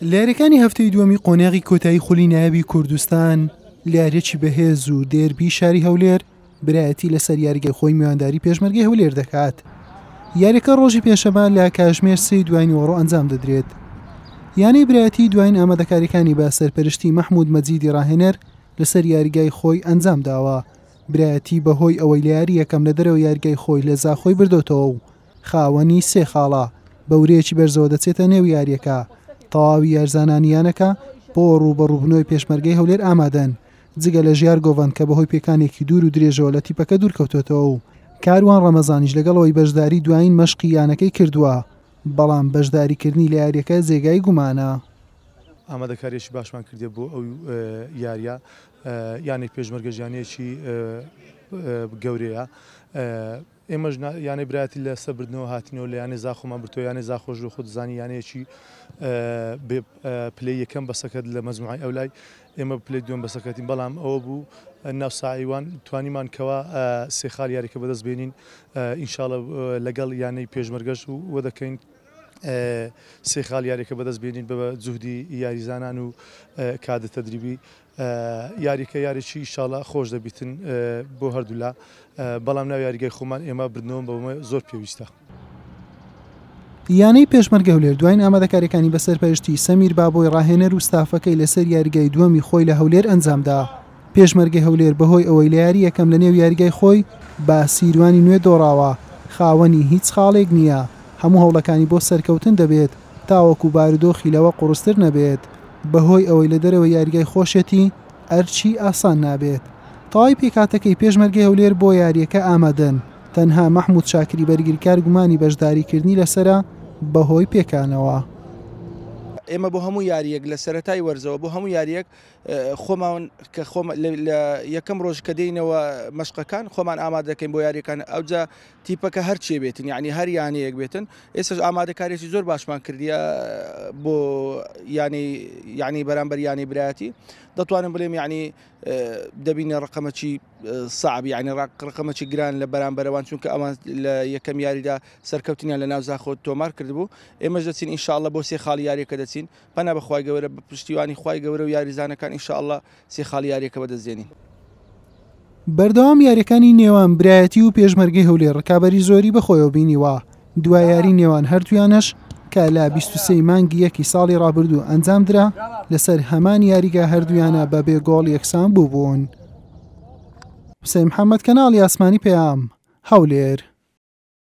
لەیاریەکانی هەفتەی دووەمی قۆناغی کۆتایی خولی نایابی کوردستان لەیاریەکی بەهێز و دێربی شاری هەولێر برایەتی لەسەر یاریگەی خۆی میوانداری پێشمەرگی هەولێر دەکات یاریەکە ڕۆژی پێشەمە لە کاژمێر سی دوای نیوەڕۆ ئەنجام دەدرێت یانەی برایەتی دوایین ئامادەکاریەکانی بە سەرپەرشتی مححمود مەجیدی ڕاهێنەر لەسەر یاریگای خۆی ئەنجام داوە برایەتی بەهۆی ئەوەی لە یاری یەکەم لە دەرەوە یاریگای خۆی لە زاخۆی بردۆتەوە و خاوەنی سێ خاڵە، بە ورەیەکی بەرزەوە دەچێتە نێو یارییەکە، تەواوی یارزانانی یانەکە بۆ رووبەڕووبوونەوەی پێشمەرگەی هەولێر ئامادەن، جگە لە ژیار گۆڤەند کە بەهۆی پێکانێکی دوور و درێژەوە لە تیپەکە دوورکەوتۆتەوە و کاروان رەمەزانیش لەگەڵەوەی بەشداری دوایین مەشقی یانەکەی کردووە، بەڵام بەشداریکردنی لە یارییەکە جێگای گومانە. ئامادەکارییەکی باشمان کردیە بۆ ئەو یارییە، یانەی پێشمەرگەش یانەیەکی گەورەیە، ئێمەش نا یانەی برایەتی لە سەر بردنەوە هاتینەوە لە یانەی زاخۆمان بردەوە، یانەی زاخۆش بە خۆت دەزانی یانەیەکی بێ پلەی یەکەم بە سەکەت لە مەجموعەی ئەولای ئێمە پلەی دووەم بە سەکەتین بەڵام ئەوە بوو ناو ساعیوان توانیمان کەوا سێ خاڵ یاریکە بەدەست بێنین ئینشاڵە لەگەڵ یانەی پێشمەرگەش و وە دەکەین سێ خاڵ یاریەکە بەدەست بێنین بە جوهدی یاریزانان و کادە تەدریبی یاریکە یاریکی ئیشاڵا خۆش دەبیتن بۆ هەردولا بەڵام ناو یاریگای خۆمان ئێمە بردنەوەم بەومە زۆر پێویستە. یانەی پێشمەرگە هەولێر دواین ئامادەکاریەکانی بە سەرپەرشتی سەمیر بابۆی ڕاهێنەر و ستافەکەی لەسەر یاریگای دووەمی خۆی لە هەولێر ئەنجامدا. پێشمەرگەی هەولێر بەهۆی ئەوەی لە یاری یەکەم لە نێو یاریگای خۆی بە سیروانی نوێ دۆڕاوە، خاوەنی هیچ خاڵێک نییە، هەموو هەوڵەکانی بۆ سەرکەوتن دەبێت. تاوەکو بارودۆخی لەوە قوڕستر نەبێت بەهۆی ئەوەی لە دەرەوەی یاریگای خۆشێتی ئەرچی ئاسان نابێت تەواوی پێکهاتەکەی پێشمەرگەی هەولێر بۆ یارییەکە ئامادەن تەنها مەحمود شاکری بەرگریکار گومانی بەشداریکردنی لەسەرە بەهۆی پێکانەوە. ئێمە بۆ هەموو یارییەک لە سەرەتای وەرزەوە بۆ هەموو یارییەک خۆمان کە خۆم لە یەکەم ڕۆژ کە دێینەوە مەشقەکان خۆمان ئامادەکەین بۆ یاریەکان ئەوجا تیپەکە هەرچێ بێتن یانی هەر یانەیەک بێتن ئێسش ئامادەکارێکی زۆر باشمان کردیە بۆ یانی یانی بەرامبەر یانی برایەتی دەتوانم بلێم یعنی دەبینە ڕقەمەکی سعب یعنی ڕقەمەکی گران لە بەرامبەرەوان چونکە ئەوان لە یەکەم یاریدا سەرکەوتنیان لە ناوزاخۆت تۆمار کردبوو ئێمەش دەچین انشاءله بۆ سێ خاڵ یاریەکە دەچین پنا بەخوای گەورە بە پشتیوانی خی گەورە و یاریزانەکان انشاءله سێ خاڵی یارییەکە بەدەستدێنین. بەردەوام یاریەکانی نێوان برایەتی و پێشمەرگەی هەولێر ڕکابەری زۆری بەخۆیەوە بینیوە، دوا یاری نێوان هەردوویانەش کە لە بیست و سێی مانگی یەکی ساڵی ڕابردوو ئەنجامدرا، لەسەر هەمان یاریگا هەردوویانە بەبێ گۆڵ یەکسان بووبوون. حوسێن محەممەد کەناڵی ئاسمانی پەیام، هەولێر.